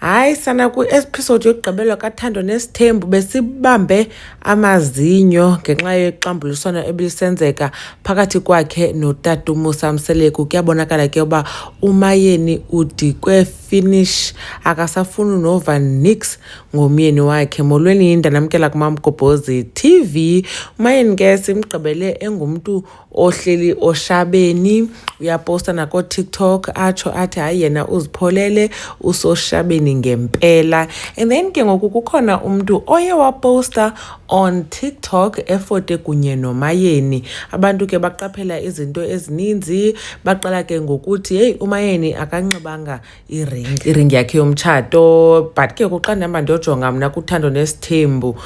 Hayi sana kwi-episode yokugqibelwa kathando nesithembu besibambe amazinyo ngenxa yexambuliswano ebilisenzeka phakathi kwakhe notata umusa mseleku kuyabonakala ke uba umayeni udikwe finish akasafuni nova nix ngomyeni wakhe molweni yinda namkela kumamgobhozi tv umayeni ke simgqibele engumntu ohleli oshabeni uyaposta nakotiktok atsho athi hayi yena uzipholele usoshabeni ngempela and then ke ngoku kukhona umntu oye waposta on tiktok efote kunye nomayeni abantu ke baqaphela izinto ezininzi baqala ke ngokuthi heyi umayeni akanxibanga iring iring yakhe yomtshato but ke kuxa ndihamba ndiyojonga mna kuthando nesithembu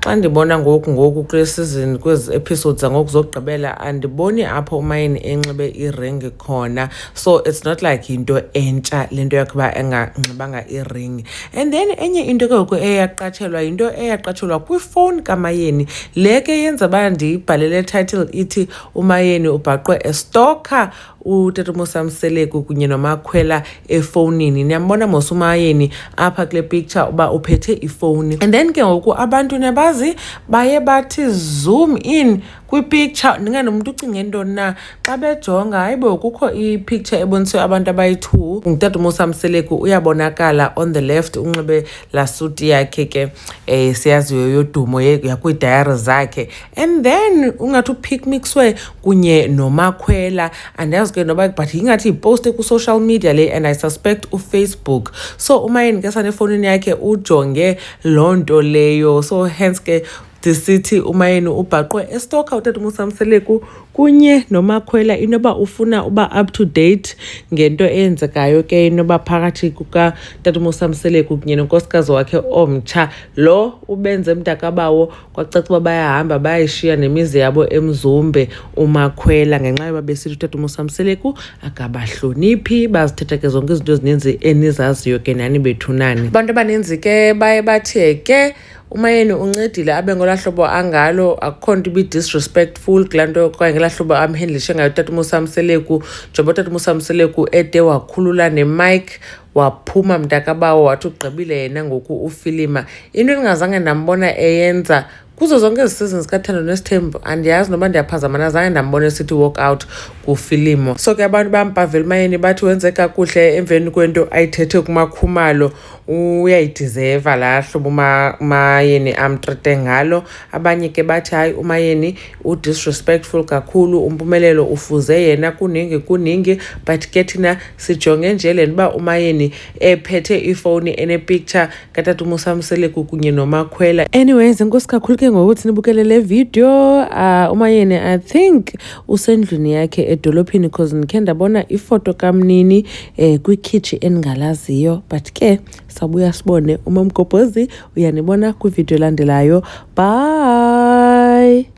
xa ndibona ngoku ngoku kule sizini kwezi episodes zangoku zokugqibela andiboni apho umayini enxibe iring khona so it's not like yinto entsha le nto yakuba enganxibanga iring and then enye into ke ngoku eyaqatshelwa yinto eyaqatshelwa kwifowuni kamayeni le ke yenza uba ndiyibhalele title ithi umayeni ubhaqwe estocker utata umosamseleku kunye nomakhwela efowunini niyambona mosumayeni apha kule picture uba uphethe ifowuni and then ke ngoku abantu nebazi baye bathi zoom in kwipicture ndingathi umntu ucinge ntoni na xa bejonga hayi bo kukho ipicture eboniswe abantu abayi-two ngutata umosamseleku uyabonakala on the left unxibe laa suti yakhe ke um siyaziyo yodumo yakwiidayari zakhe and then ungathi uphikmixwe kunye nomakhwela andazi ke noba but ingathi yiposte kwi-social media le and i suspect ufacebook so umayeni ke sanefowunini yakhe ujonge loo nto leyo so hence ke ndisithi umayeni ubhaqwe estoka utata umusamseleku kunye nomakhwela inoba ufuna uba up to date ngento eyenzekayo ke inoba phakathi kukatata umusamseleku kunye nonkosikazi wakhe omtsha lo ubenze mntakabawo kwacaca uba bayahamba bayayishiya nemizi yabo emzumbe umakhwela ngenxa yoba besithi utata umusamseleku akabahloniphi bazithetha ke zonke izinto ezininzi enizaziyo ke nani bethunani abantu abaninzi ke baye bathe ke umayeni uncedile abe ngolaa hlobo angalo akukho nto ibi-disrespectful kulaa nto okanye ngelaa hlobo amhendlishe ngayo utata umusamseleku njengoba utata umusamseleku ede wakhulula nemike waphuma mntakabawo wathi ugqibile yena ngoku ufilima into endingazange ndambona eyenza kuzo zonke ezi season zikathando nesithembu andiyazi noba ndiyaphazama nazange ndambona esithi walk out kufilimu so ke abantu bampavela umayeni bathi wenze kakuhle emveni kwento ayithethe kumakhumalo uyayidizeva laa hlobo umayeni amtrete ngalo abanye ke bathi hayi umayeni udisrespectful kakhulu umpumelelo ufuze yena kuningi kuningi but ke thina sijonge nje le ntoba umayeni ephethe ifowuni enepicture katata umusamseleku kunye nomakhwela anyways inkosi kakhulu ke ngokuthi nibukele le video uh, umayeni i think usendlwini yakhe edolophini because ndikhe ndabona ifoto kamnini eh, kwikhitshi endingalaziyo but ke sabuya sibone umamgobhozi uyanibona kwividiyo elandelayo bye